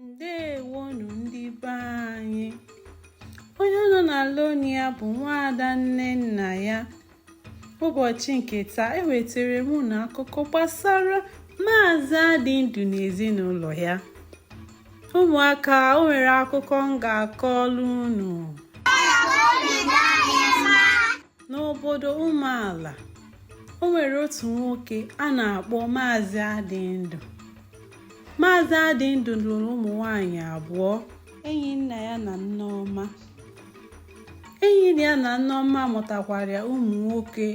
ndewonu ndị be anyị onye unu na-anụ olu ya bụ nwaada nnennaya ụbọchị nke taa ewetara m unu akụkọ gbasara maazị adịndụ na ezinụlọ ya ụmụaka o nwere akụkọ m ga-akọlụ unu n'obodo ụmụala o nwere otu nwoke a na-akpọ maazị adịndụ Maazị Adịndụ lụrụ ụmụ nwaanyị abụọ Enyinneya na Nneọma Enyinneya na Nneọma mụtakwara ụmụ nwoke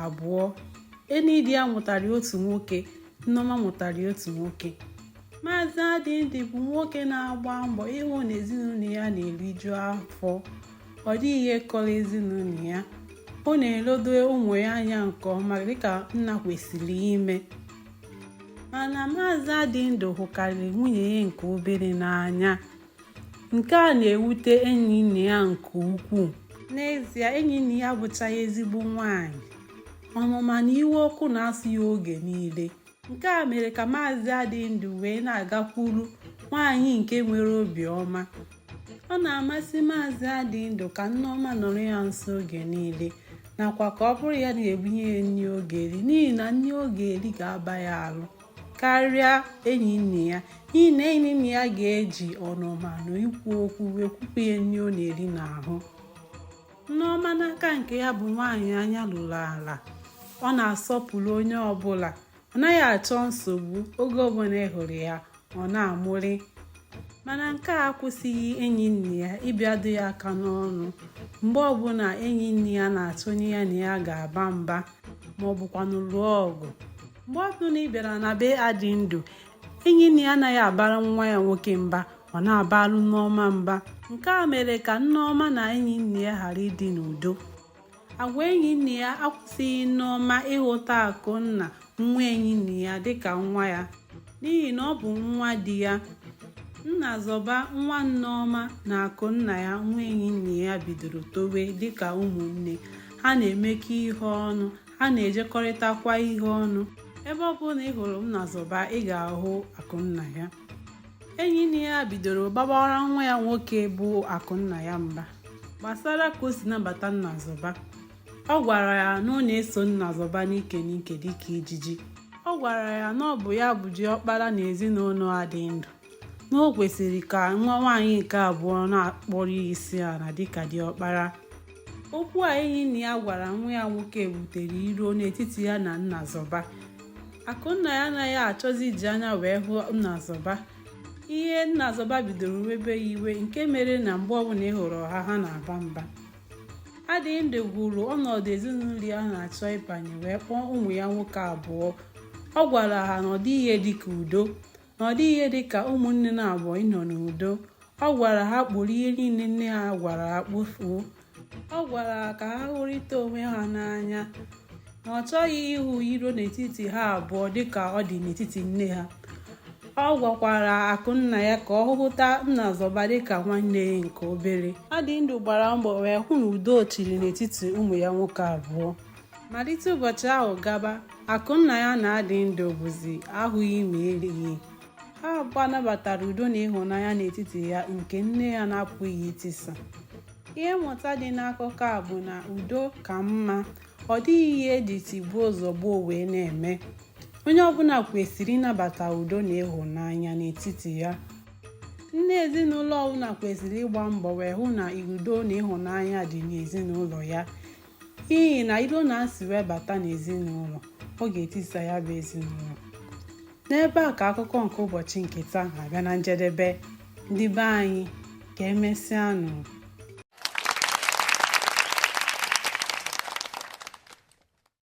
abụọ Enyinneya mụtara otu nwoke Nneọma mụtara otu nwoke Maazị Adịndụ bụ nwoke na-agba mbọ ịhụ na ezinụlọ ya na-eriju afọ ọ dịghị ihe kọrọ ezinụlọ ya ọ na-eledo ụmụ ya anya nke ọma dịka nna kwesịrị ime mana maazị adịndụ hụkarịrị nwunye ya nke obere n'anya nke a na-ewute enyinneya nke ukwuu n'ezie enyinneya bụchaghị ezigbo nwanyị ọnụma na iwe ọkụ na-asụ ya oge niile nke a mere ka maazị adịndụ wee na-agakwuru nwaanyị nke nwere obiọma ọ na-amasị maazị adịndụ ka nneọma nọrọ ya nso oge niile nakwa ka ọ bụrụ ya na-ebunye ya nri ọ ga-eri n'ihi na nri ọ ga-eri ga-aba ya arụ karịa enyinneya n'ihi na enyinneya ga-eji ọnụma na ikwu okwu wee kwupụ ya nri ọ na-eri n'ahụ nneọma n'aka nke ya bụ nwaanyị anya luru ala ọ na-asọpụrụ onye ọbụla ọ naghị achọ nsogbu oge ọbụla ị hụrụ ya ọ na-amụrị mana nke a akwụsịghị enyinneya ịbịado ya aka n'ọnụ mgbe ọbụla enyinneya na-achọ onye ya na ya ga-aba mba ma ọ bụkwanụ lụọ ọgụ mgbe ọbụla ị bịara na be adịndụ enyinneya anaghị abara nwa ya nwoke mba ọ na-abara nneọma mba nke a mere ka nneọma na enyinneya ghara ịdị n'udo agwa Enyinneya akwụsịghị Nneọma ịhụta Akụnna nwa Enyinneya dịka nwa ya n'ihi na ọ bụ nwa di ya Nnazọba nwa Nneọma na Akụnnaya nwa Enyinneya bidoro towe dịka ụmụnne ha na-emekọ ihe ọnụ ha na-ejekọrịtakwa ihe ọnụ ebe ọ bụla ị hụrụ Nnazọba ị ga-ahụ Akụnnaya enyinneya bidoro bawara nwa ya nwoke bụ akụnnaya mba gbasara ka o si nabata nnazọba ọ gwara ya na ọ na-eso nnazọba n'ike n'ike dịka ijiji ọ gwara ya na ọ bụ ya bụ diọkpara na ezinụlọ adịndụ na o kwesịrị ka nwa nwaanyị nke abụọ na-akpọrọ ya isi ala dịka diọkpara okwu a enyinneya gwara nwa ya nwoke butere iro n'etiti ya na nnazọba Akụnnaya anaghị achọzi iji anya wee hụ Nnazọba ihe Nnazọba bidoro webe ya iwe nke mere na mgbe ọbụla ị hụrụ ha ha na-aba mba Adịndụ hụrụ ọnọdụ ezinụlọ ya na-achọ ịbanye wee kpọọ ụmụ ya nwoke abụọ ọ gwara ha na ọ dịghị ihe dịka udo na ọ dịghị ihe dị ka ụmụnne naabọ ịnọ n'udo ọ gwara ha kporo ihe niile nne ha gwara ha kpofuo ọ gwara ha ka ha hụrịta onwe ha n'anya na ọ chọghị ịhụ iro n'etiti ha abụọ dịka ọ dị n'etiti nne ha ọ gwakwara Akụnnaya ka ọ hụta Nnazọba dịka nwanne ya nke obere Adịndụ gbara mbọ wee hụ na udo chịrị n'etiti ụmụ ya nwoke abụọ malite ụbọchị ahụ gaba Akụnnaya na Adịndụ bụzi ahụghị ma erighị ha abụọ nabatara udo na ịhụnanya n'etiti ya nke nne ya na-apụghị itisa ihe mmụta dị n'akụkọ a bụ na udo ka mma ọ dịghị ihe eji tigbuo zọgbuo wee na-eme onye ọbụla kwesịrị ịnabata udo na ịhụnanya n'etiti ya nna ezinụlọ ọbụla kwesịrị ịgba mbọ wee hụ na udo na ịhụnanya dị n'ezinụlọ ya n'ihi na iro na asị wee bata n'ezinụlọ ọ ga-etisa ya bụ ezinụlọ n'ebe a ka akụkọ nke ụbọchị nke taa na-abịa na njedebe ndị be anyị ka emesịa nụ